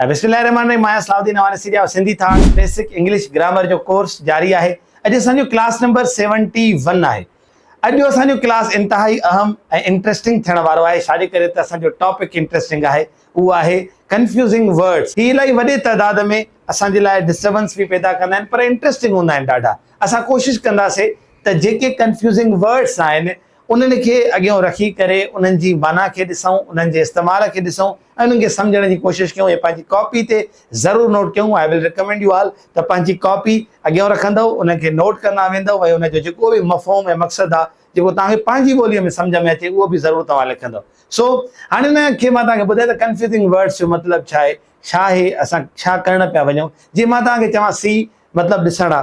بسم الله الرحمٰن الرحيم آهيان صلاح الدين اوانسي جا سنڌي ٿاڻ بيسڪ انگلش گرامر جو ڪورس جاري آهي اڄ اسان جو ڪلاس نمبر 71 آهي اڄ اسان جو ڪلاس انتهائي اهم ۽ انٽريسٽنگ ٿيڻ وارو آهي شادي ڪري ته اسان جو ٽاپڪ انٽريسٽنگ آهي اهو آهي ڪنفيوزنگ ورڊز هي الائي وڏي تعداد ۾ اسان جي لاء ڊسٽربنس به پيدا ڪندا آهن پر انٽريسٽنگ هوندا آهن ڏاڍا اسان ڪوشش ڪنداسي ته جيڪي ڪنفيوزنگ ورڊز آهن انهن کي اڳيون رکي ڪري انهن جي معنيٰ کي ڏسون انهن جي استعمال کي ڏسون انهن کي سمجهڻ جي ڪوشش ڪيون ۽ پنهنجي ڪاپي تي ضرور نوٽ ڪيون I will recommend you all ته پنهنجي ڪاپي اڳيئون رکندؤ انهن کي نوٽ ڪندا ويندؤ ۽ ان جو جيڪو به مفهوم ۽ مقصد آ جيڪو توهان کي پنهنجي ٻوليء ۾ سمجهه ۾ اچي اهو به ضرور توهان لکندؤ سو هاڻي ان کي مان توهان کي ٻڌائي ته ڪنفيوزنگ ورڊس جو مطلب ڇا آهي ڇا آهي اسان ڇا ڪرڻ پيا وڃون جي مان توهان کي چوان سي مطلب ڏسڻ آ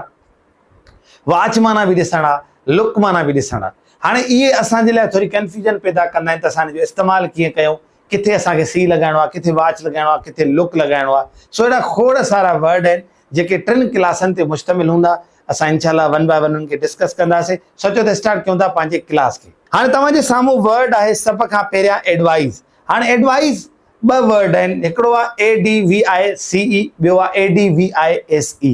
واچ معنيٰ به ڏسڻ آ لڪ معنيٰ به ڏسڻ آ هاڻي اهي اسان جي لاء ٿوري ڪنفيوزن پيدا ڪندا آهن ته اسان ان جو استعمال ڪيئن ڪيون ڪٿي اسان کي سي لڳائڻو آهي، ڪٿي واچ لڳائڻو آهي، ڪٿي لڪ لڳائڻو آهي، سو اهڙا کوڙ سارا ورڊ آهن جيڪي ٽن ڪلاسن تي مشتمل هوندا، اسان انشاء الله ون باء ون انهن کي ڊسڪس ڪنداسين، سوچو ته اسٽارٽ ڪيون ٿا پنهنجي ڪلاس کي. هاڻي توهان جي سامهون ورڊ آهي سڀ کان پهريان ايڊوائيز، هاڻي ايڊوائيز ٻه ورڊ آهن هڪڙو آهي ADVICE ٻيو آهي ADVISE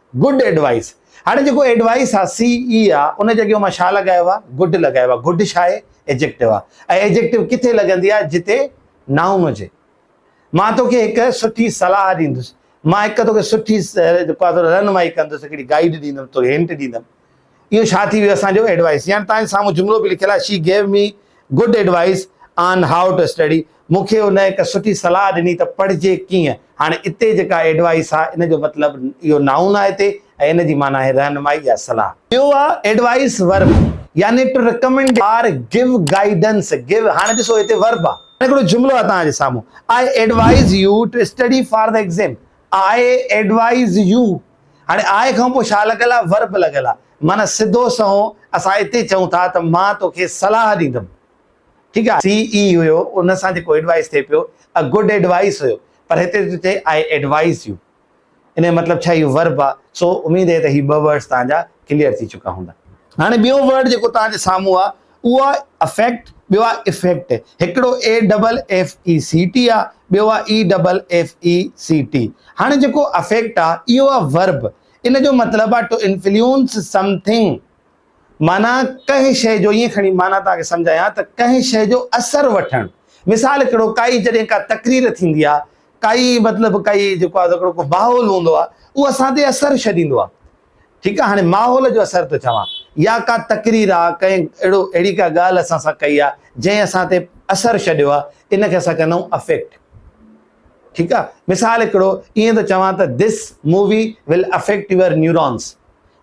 گڊ ايڊوائيس هاڻي جيڪو ايڊوائيس آ سي اي آ ان جي اڳيون مان ڇا لڳايو آ گڊ لڳايو آ گڊ ڇا آهي ايجڪٽو آ ۽ ايجڪٽو ڪٿي لڳندي آ جتي نائون هجي مان توکي هڪ سٺي صلاح ڏيندس مان هڪ توکي سٺي رهنمائي ڪندس هڪڙي گائيڊ ڏيندم توکي هنٽ ڏيندم اهو ڇا ٿي ويو اسان جو ايڊوائيس يعني تهان جي سامهون جملو به لکيل آهي she gave me good advice on how to study مون کي هن هڪ سٺي صلاح ڏني ته پڙهجي ڪيئن هاڻي اتي جيڪا ايڊوائيس آهي ان جو مطلب اهو نائون آهي هتي ۽ ان جي معنيٰ آهي رهنمائي يا صلاح. ٻيو آهي ايڊوائيس ورب يعني to recommend or give guidance give هاڻي ڏسو هتي ورب آهي هاڻي هڪڙو جملو آهي تهان جي سامهون I advise you to study for the exam I advise you هاڻي آء کان پوء شاهه لڳل آ، ور به لڳل آ، معنيٰ سڌو سنئون اسان اتي چئون ٿا ته مان توکي صلاح ڏيندم. ٺيڪ آ، سي اي هيو، ان سان جيڪو ايڊوائيس ٿئي پيو، a good advice هيو، پر هتي ٿو چئي I advise you، ان جو مطلب ڇا اهو ورب آ، سو اميد هي ته هي ٻه ورڊز توهان جا ڪليئر ٿي چڪا هوندا. هاڻي ٻيو ورڊ جيڪو توهان جي سامهون آ، اهو آهي افيڪٽ، ٻيو آهي افيڪٽ، هڪڙو A double F E C T آهي، ٻيو آهي E double F E C T. هاڻي جيڪو افيڪٽ آهي اهو آهي ورب، ان جو مطلب آهي ٽو انفليونس سم ٿنگ، معنيٰ ڪنهن شيء جو ائين کڻي معنيٰ توهان کي سمجهايان ته ڪنهن شيء جو اثر وٺڻ. مثال هڪڙو ڪائي جڏهن ڪا تقرير ٿيندي آهي، ڪائي مطلب ڪائي جيڪو آهي هڪڙو ڪو ماحول هوندو آهي، اهو اسان تي اثر ڇڏيندو آهي. ٺيڪ آ هاڻي ماحول جو اثر ٿو چوان يا ڪا تقرير آ ڪنهن اهڙو اهڙي ڪا ڳالهه اسان سان ڪئي آ جنهن اسان تي اثر ڇڏيو آ ان کي اسان ڪندايون افيڪٽ ٺيڪ آ مثال هڪڙو ائين ٿو چوان ته this movie will affect your neurons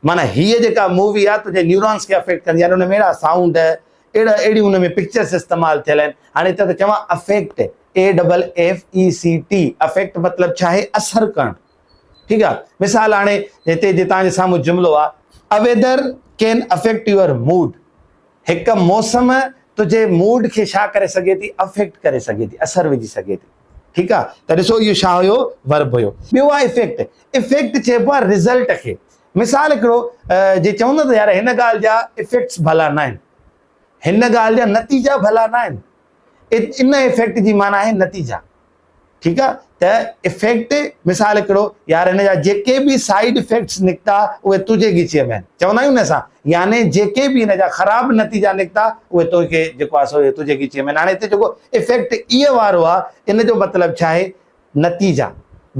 معنی هيء جيڪا مووي آ تنهنجي نيورونس کي افيڪٽ ڪندي يعني ان ۾ اهڙا سائونڊ اهڙا اهڙي ان ۾ پڪچرس استعمال ٿيل آهن هاڻي هتي ته چوان affect A double F E C T affect مطلب ڇا آهي اثر ڪرڻ ٺيڪ آ مثال هاڻي هتي جي توهان جي سامهون جملو آ A weather can affect your mood هڪ موسم تنهنجي موڊ کي ڇا ڪري سگهي ٿي افيڪٽ ڪري سگهي ٿي اثر وجهي سگهي ٿي ٺيڪ آ ته ڏسو اهو ڇا هيو ورب هيو ٻيو آ افيڪٽ افيڪٽ چئبو آ رزلٽ کي مثال هڪڙو جي چوندا ته يار هن ڳالهه جا افيڪٽس ڀلا نه آهن هن ڳالهه جا نتيجا ڀلا نه آهن ان افيڪٽ جي معنيٰ آهي نتيجا ٺيڪ آ ته افيڪٽ مثال هڪڙو يار هن جا جيڪي به سائيڊ افيڪٽس نڪتا اهي تنهنجي ڳچيء ۾ چوندا آهيون نه اسان يعني جيڪي به هن جا خراب نتيجا نڪتا اهي تنهنجي جيڪو آ سو تنهنجي ڳچيء ۾ هاڻي هتي جيڪو افيڪٽ اي وارو آ ان جو مطلب ڇا آهي نتيجا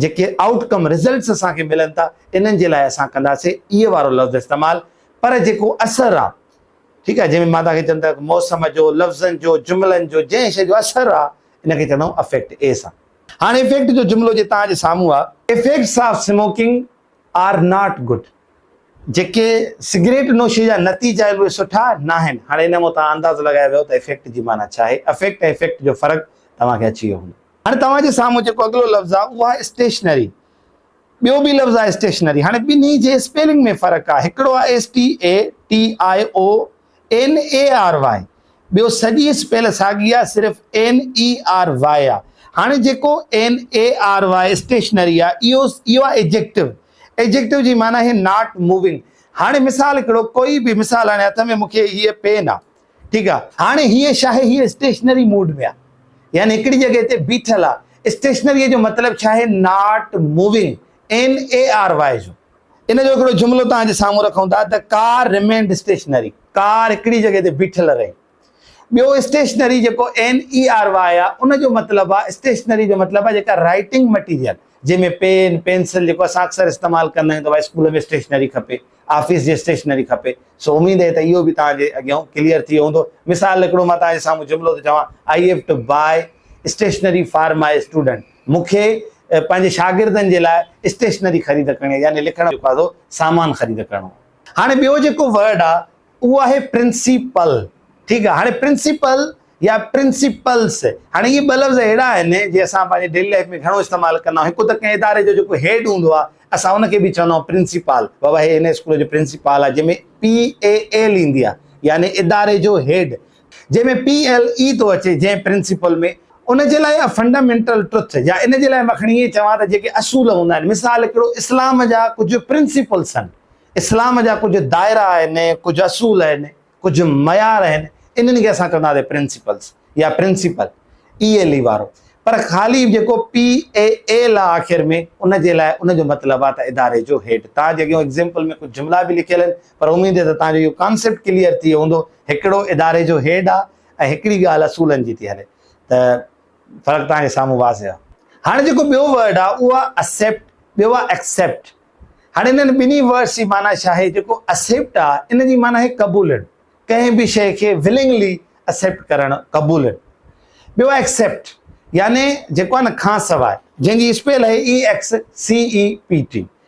جيڪي آئوٽ ڪم رزلٽس اسان کي ملن ٿا انهن جي لاء اسان ڪنداسي اي وارو لفظ استعمال پر جيڪو اثر آ ٺيڪ آ جنهن ۾ مان توهان کي چوم ته موسم جو لفظن جو جملن جو جنهن شي جو اثر آ ان کي چوندائون افيڪٽ، اي سان. هاڻ افيڪٽ جو جملو جي توهان جي سامهون آ. Effects of smoking are not good, جيڪي سگريٽ نوشي جا نتيجا آهن اهي سٺا ناهن. هاڻ ان مان توهان اندازو لڳائي ويو ته افيڪٽ جي معنيٰ ڇا آهي. افيڪٽ ۽ افيڪٽ جو فرق توهان کي اچي ويو هوندو. هاڻ توهان جي سامهون جيڪو اڳلو لفظ آ اهو آ اسٽيشنري. ٻيو به لفظ آ اسٽيشنري. هاڻ ٻنهي جي اسپيلنگ ۾ فرق آ. هڪڙو آ STATION. N A R Y ٻيو سڄي اسپيل ساڳي آ صرف اين اي آر واء آ هاڻي جيڪو N A R Y stationary آ اهو اهو آ ايجيڪٽو ايجيڪٽو جي معنيٰ هي ناٽ موونگ هاڻي مثال هڪڙو ڪوئي به مثال هاڻي هٿ ۾ مونکي هيء پين آ ٺيڪ آ هاڻي هيء ڇا آهي هيء اسٽيشنري موڊ ۾ آ يعني هڪڙي جڳهه تي بيٺل آ اسٽيشنري جو مطلب ڇا آهي not moving N A R Y جو ان جو هڪڙو جملو توهان جي سامهون رکون ٿا ته ڪار ريمينڊ اسٽيشنري، ڪار هڪڙي جڳهه تي بيٺل رهي. ٻيو اسٽيشنري جيڪو NERY آهي ان جو مطلب آهي اسٽيشنري جو مطلب آهي جيڪا رائيٽنگ مٽيريل جنهن ۾ پين، پينسل جيڪو اسان اڪثر استعمال ڪندا آهيون ته ڀائي اسڪول ۾ اسٽيشنري کپي، آفيس جي اسٽيشنري کپي. سو اميد آهي ته اهو به توهان جي اڳيان ڪليئر ٿي ويو هوندو. مثال هڪڙو مان توهان جي سامهون جملو ٿو چوان، I have to buy stationery for my student. مون کي پنهنجي شاگردن جي لاء اسٽيشنري خريد ڪرڻي يعني لکڻ جو ڪاڌو سامان خريد ڪرڻو آهي. هاڻي ٻيو جيڪو ورڊ آهي اهو آهي پرنسيپل ٺيڪ آهي هاڻي پرنسيپل يا پرنسيپلس هاڻي اهي ٻه لفظ اهڙا آهن جي اسان پنهنجي ڊيلي لائيف ۾ گهڻو استعمال ڪندا آهيون هڪ ته ڪنهن اداري جو جيڪو هيڊ هوندو آهي اسان ان کي به چوندا آهيون پرنسيپال بابا هي هن اسڪول جو پرنسيپال آهي جنهن ۾ PAL ايندي آهي يعني اداري جو هيڊ جنهن ۾ پي ايل اي ٿو اچي جنهن پرنسپل ۾ ان جي لاء يا فنڊامينٽل ٽروٿ يا ان جي لاء مان کڻي ائين چوان ته جيڪي اصول هوندا آهن مثال هڪڙو اسلام جا ڪجهه پرنسپلس آهن اسلام جا ڪجهه دائرا آهن ڪجهه اصول آهن ڪجهه معيار آهن انهن کي اسان چونداسين پرنسپلس يا پرنسپل اي ايل اي وارو پر خالي جيڪو پي اي ايل آ آخر ۾ ان جي لاء ان جو مطلب آ ته اداري جو هيڊ تان جيڪي اگزيمپل ۾ ڪجهه جملا به لکيل آهن پر اميد ته توهان جو اهو ڪانسيپٽ ڪليئر ٿي ويو هوندو، هڪڙو اداري جو هيڊ آ ۽ هڪڙي ڳالهه اصولن جي ٿي هلي ته فرق توهان جي سامهون واضح آ. هاڻي جيڪو ٻيو ورڊ آ اهو آ اسيپٽ ٻيو آ ايڪسيپٽ هاڻي انهن ٻنهي ورڊس جي معنيٰ ڇا آهي جيڪو اسيپٽ آ ان جي معنيٰ آهي قبولڻ ڪنهن به شيء کي ولنگلي اسيپٽ ڪرڻ قبولڻ ٻيو آ ايڪسيپٽ يعني جيڪو آ نه کانسواء جنهن جي اسپيل آهي E X C E P T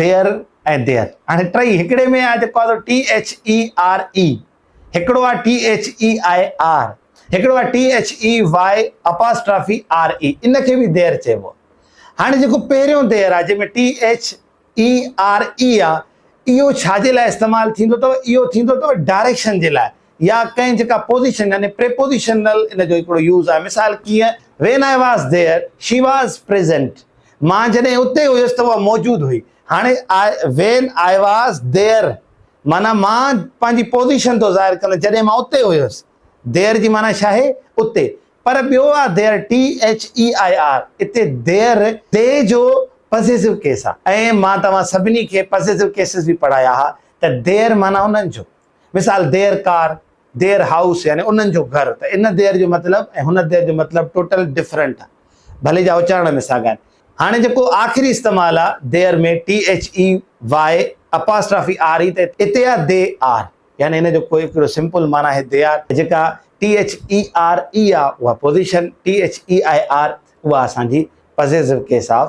there ۽ there هاڻي ٽئي هڪڙي ۾ آهي جيڪو آهي T H E R E هڪڙو آهي T H E I R هڪڙو آهي T H E Y apostrophe R E ان کي به دير چئبو هاڻي جيڪو پهريون دير آهي جنهن ۾ T H E R E آهي اهو ڇا جي لاء استعمال ٿيندو اٿو اهو ٿيندو اٿو ڊائريڪشن جي لاء يا ڪنهن جيڪا پوزيشن يعني پريپوزيشنل ان جو هڪڙو يوز آهي مثال ڪيئن When I was there she was present مان جڏهن اتي هيس ته اها موجود هئي هاڻي When I was there معنيٰ مان پنهنجي پوزيشن ٿو ظاهر ڪندس جڏهن مان اتي هيس There جي معنيٰ ڇا آهي اتي پر ٻيو آهي There THEIR اتي There They جو پزيسو ڪيس آهي ۽ مان توهان سڀني کي پزيسو ڪيسز به پڙهايا ها ته There معنيٰ انهن جو مثال، دير ڪار، دير هائوس يعني انهن جو گهر ته ان دير جو مطلب ۽ هن دير جو مطلب ٽوٽل ڊفرنٽ آهي ڀلي جا اچارڻ ۾ ساڳا آهن. هاڻي جيڪو آخري استعمال آهي they're ۾ THEY apostrophe R E ته اتي آهي دي آر يعني ان جو ڪو هڪڙو سمپل معنيٰ آهي دي آر ۽ جيڪا THERE آهي اها پوزيشن THEIR اها اسان جي possessive case of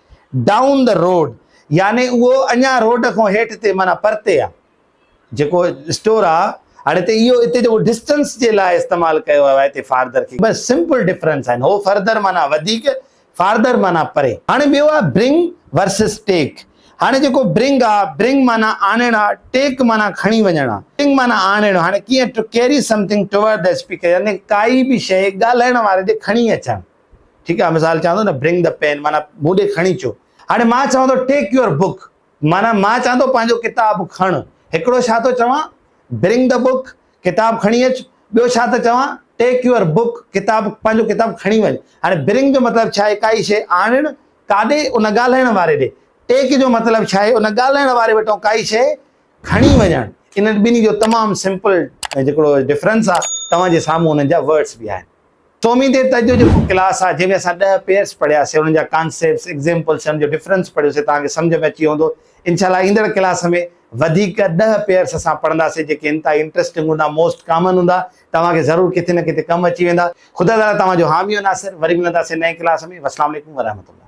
Down the road يعني اهو اڃان روڊ کان هيٺ تي معنيٰ پرتي آ جيڪو اسٽور آ هاڻي هتي اهو هتي جيڪو ڊسٽنس جي لاء استعمال ڪيو ويو آ هتي فاردر کي بس سمپل ڊفرنس آهن هو فرڌر معنيٰ وڌيڪ فاردر معنيٰ پري هاڻي ٻيو آ برنگ ورسز ٽيڪ هاڻي جيڪو برنگ آ برنگ معنيٰ آڻڻ آ ٽيڪ معنيٰ کڻي وڃڻ آ برنگ معنيٰ آڻڻ هاڻي ڪيئن to carry something toward the speaker يعني ڪائي به شيء ڳالهائڻ واري ڏي کڻي اچڻ. ٺيڪ آهي مثال چوان ٿو نه برنگ دي پين معنيٰ مون ڏي کڻي اچو هاڻي مان چوان ٿو ٽيڪ يور بڪ معنيٰ مان چوان ٿو پنهنجو ڪتاب کڻ هڪڙو ڇا ٿو چوان برنگ دي بڪ ڪتاب کڻي اچ ٻيو ڇا ٿو چوان ٽيڪ يور بڪ ڪتاب پنهنجو ڪتاب کڻي وڃ هاڻي برنگ جو مطلب ڇا آهي ڪائي شيء آڻڻ ڪاڏي ان ڳالهائڻ واري ڏي ٽيڪ جو مطلب ڇا آهي ان ڳالهائڻ واري وٽان ڪائي شيء کڻي وڃڻ انهن ٻنهي جو تمام سمپل جيڪڙو ڊفرنس آهي توهان جي سامهون انهن جا ورڊس به آهن سومهين تي ته اڄ جيڪو ڪلاس آهي جنهن ۾ اسان ڏهه پيئرس پڙهيا سي انهن جا ڪانسيپٽس ايگزيمپلس ۽ ان جو ڊفرنس پڙهيو سي توهان کي سمجهه ۾ اچي ويو هوندو انشاء الله ايندڙ ڪلاس ۾ وڌيڪ ڏهه پيئرس اسان پڙهندا سي جيڪي انتهائي انٽرسٽنگ هوندا موسٽ ڪامن هوندا توهان کي ضرور ڪٿي نه ڪٿي ڪم اچي ويندا خدا تعالي توهان جو حامي و ناصر وري ملندا سي نئين ڪلاس ۾ والسلام عليڪم ورحمة الله.